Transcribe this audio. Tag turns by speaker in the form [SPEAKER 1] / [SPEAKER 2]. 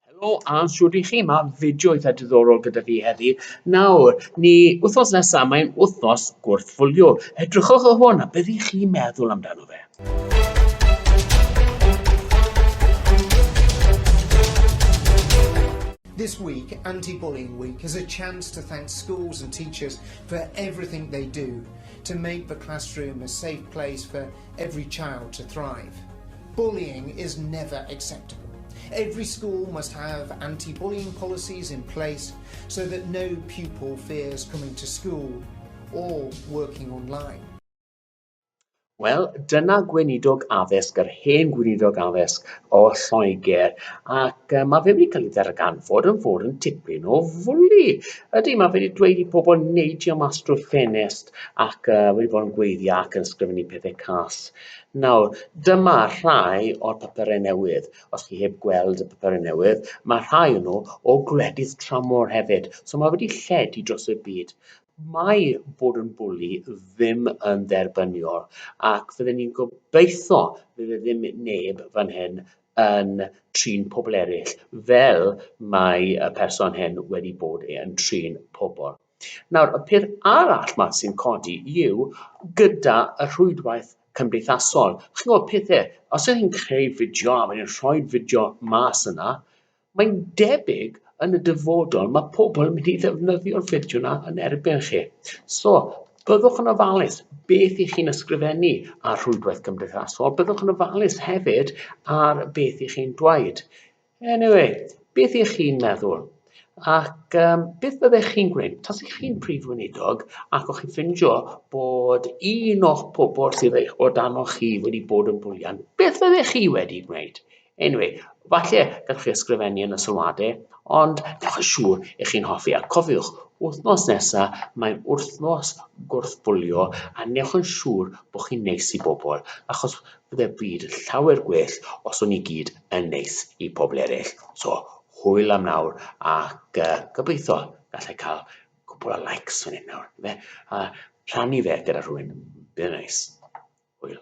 [SPEAKER 1] Helo a shwt i chi? Mae fideo eitha diddorol gyda fi heddi. Nawr, ni wythnos nesaf, mae'n wythnos gwrthfwlio. Edrychwch o hwn a beth i chi meddwl amdano fe.
[SPEAKER 2] This week, Anti-Bullying Week, is a chance to thank schools and teachers for everything they do to make the classroom a safe place for Every child to thrive. Bullying is never acceptable. Every school must have anti-bullying policies in place so that no pupil fears coming to school or working online.
[SPEAKER 1] Wel, dyna gweinidog addysg, yr hen gweinidog addysg o Lloegr, ac uh, mae fe wedi cael ei ddarganfod yn fod yn tipyn o fwli. Ydy, mae fe wedi dweud i pobl neidio mas drwy'r ffenest ac uh, wedi bod yn gweithio ac yn sgrifennu pethau cas. Nawr, dyma rhai o'r papurau newydd. Os chi heb gweld y papurau newydd, mae rhai o'n nhw o gwledydd tramor hefyd. So mae wedi lledu dros y byd. Mae bod yn bwli ddim yn dderbyniol ac fydden ni'n gobeithio bydd e ddim neb fan hyn yn trin pobl eraill fel mae y person hyn wedi bod yn trin pobl. Nawr, y peth arall 'ma sy'n codi yw gyda y rhwydwaith cymdeithasol, chi'n gwybod pethe, os ydych chi'n creu fideo a wedyn rhoi'r fideo mas yna, mae'n debyg yn y dyfodol mae pobl yn mynd i ddefnyddio'r fideo yna yn erbyn chi. So, byddwch yn ofalus beth i chi'n ysgrifennu ar rhwydwaith cymdeithasol, byddwch yn ofalus hefyd ar beth i chi'n dweud. Anyway, beth ych chi'n meddwl? Ac um, beth byddech chi'n gwneud? Tas ych chi'n prif weinidog ac o'ch chi'n ffindio bod un o'ch pobl sydd eich o dan o'ch chi wedi bod yn bwlian, beth fyddech chi wedi gwneud? Anyway, falle gallwch chi ysgrifennu yn y sylwadau, ond dewch yn siŵr ych chi'n hoffi. A cofiwch, wythnos nesaf, mae'n wythnos gwrthbwlio, a newch yn siŵr bod chi'n neis i bobl, achos byddai'r byd yn llawer gwell os o'n ni gyd yn neis i pobl eraill. So, hwyl am nawr ac uh, gobeithio gallai cael cwbl o likes fan hyn nawr. Fe, a rhannu fe gyda rhywun. Bydd neis. Hwyl.